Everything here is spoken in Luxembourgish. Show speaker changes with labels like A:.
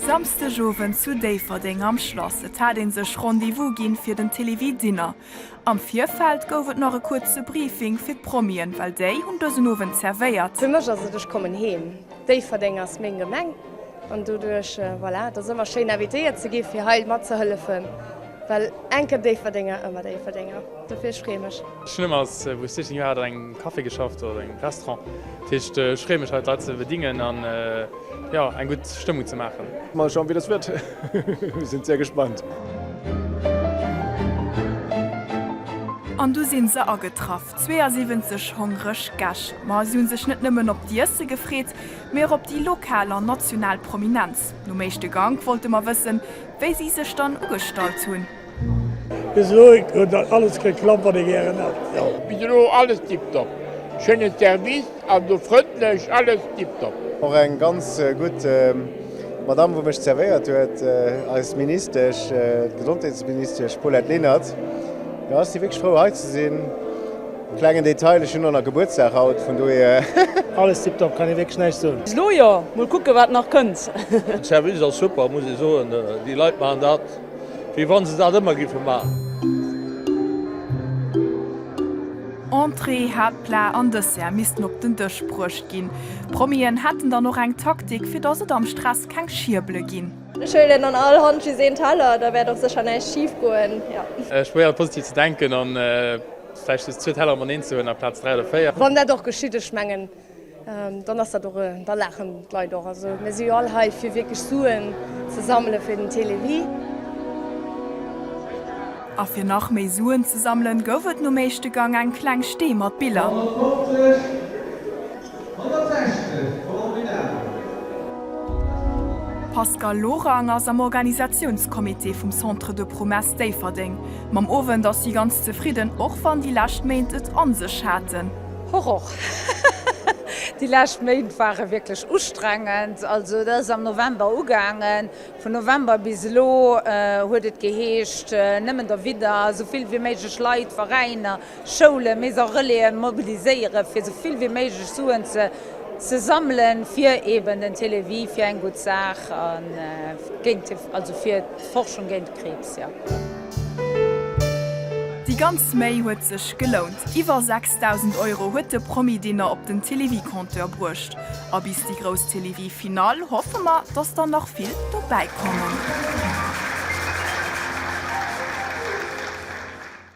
A: Samsdeg Owend zu Déifferdeng am Schlass. Et hat ee sech Rendez-vous ginn fir den Télévie Dinner. Am Virfeld gouf et nach e kuerze Briefing fir d'Promien, well déi hunn dësen Owend zervéiert. Fir mech ass et, ech kommen
B: heem. Déifferdeng ass meng Gemeng an doduerch, voilà, et ass ëmmer schéin invitéiert ze gi fir hei matzehëllefen, well enke Déifferdenger, ëmmer Déifferdenger. Dofir, ech freeë mech. Ech hunn ëmmer als wou
C: ech 16 Joer hat an engem Café geschafft oder engem Restaurant. Dat heescht ech freeë mech hei d'Leit ze bedingen an jo eng gutt Stëmmung ze maachen. Mol schauen wéi dass wird.
D: Mir sinn sehr gespannt.
A: An du sinn se agetraff, 72 hongreg Gäscht. Ma si hunn sech net nëmmen op d'Iesse gefreet, mee och op déi lokal an national Prominenz. Nom éischte Gank wollte mer wëssen, wéi si sech dann ugestallt hunn. Bis elo
E: huet alles geklappt wat ee gären hat. Bis elo alles
F: tiptop, schéinen Service an sou frëndlech, alles tiptop. Och eng ganz
D: gutt Madame wou mech zervéiert huet, eis Ministesch, d'Gesondheetsministesch Paulette Lenert, jo ech si wierklech frou hei ze sinn. Klengen Detail, ech hunn och nach Gebuertsdag haut, vun dohier. Alles tiptop,
E: kann ee wierklech näischt soen. Bis elo jo, mol kucke
G: wat nach kënnt. Service ass
H: super muss ee soen, déi Leit maachen dat. Wéi wann se dat ëmmer giffe man.
A: Entrée, Haaptplat an Dessert missten op den Dësch bruecht ginn. D'Promien hätten dann och eng Taktik, fir dass et am Stress keng Schierbele ginn. Ech huelen an all
B: Hand just een Teller, da wäert och sécher näischt schif goen. Ech probéieren positiv ze
C: denken an vläicht just zwee Teller mateneen ze huelen aplaz dräi oder véier. Wann dat och geschitt, ech
B: mengen Dann ass dat och, da laachen d'Leit och. Also mir si jo all hei fir wierklech Suen ze sammele fir den Télévie.
A: A fir nach méi Suen ze sammelen, gouf et nom éischte Gang eng kleng Stee mat Biller. D'Pascale Lorang ass am Organisatiounscomité vum Centre de Promesse Déifferdeng. Mam Owend ass si ganz zefridden, och wann déi lescht Méint et an sech haten. Hoch och.
G: Déi lescht Méint ware wierklech ustrengend. Also et ass am November ugaangen. Vun November bis elo huet et geheescht, nëmmen derwidder esou vill wéi méiglech Leit, Veräiner, Schoulen, mais och Relaisen mobiliséieren, fir esou vill wéi méiglech Suen ze sammelen, fir eeben den Télévie, fir eng gutt Saach, also fir d'Forschung géint. Krebs, jo.
A: Déi ganz Méi huet sech gelount. Iwwer 6.000 Euro huet de Promi-Dinner op den Télévie-Compteur bruecht. A bis déi grouss Télévie-Finall hoffe mer, dass der nach vill dobäi kommen.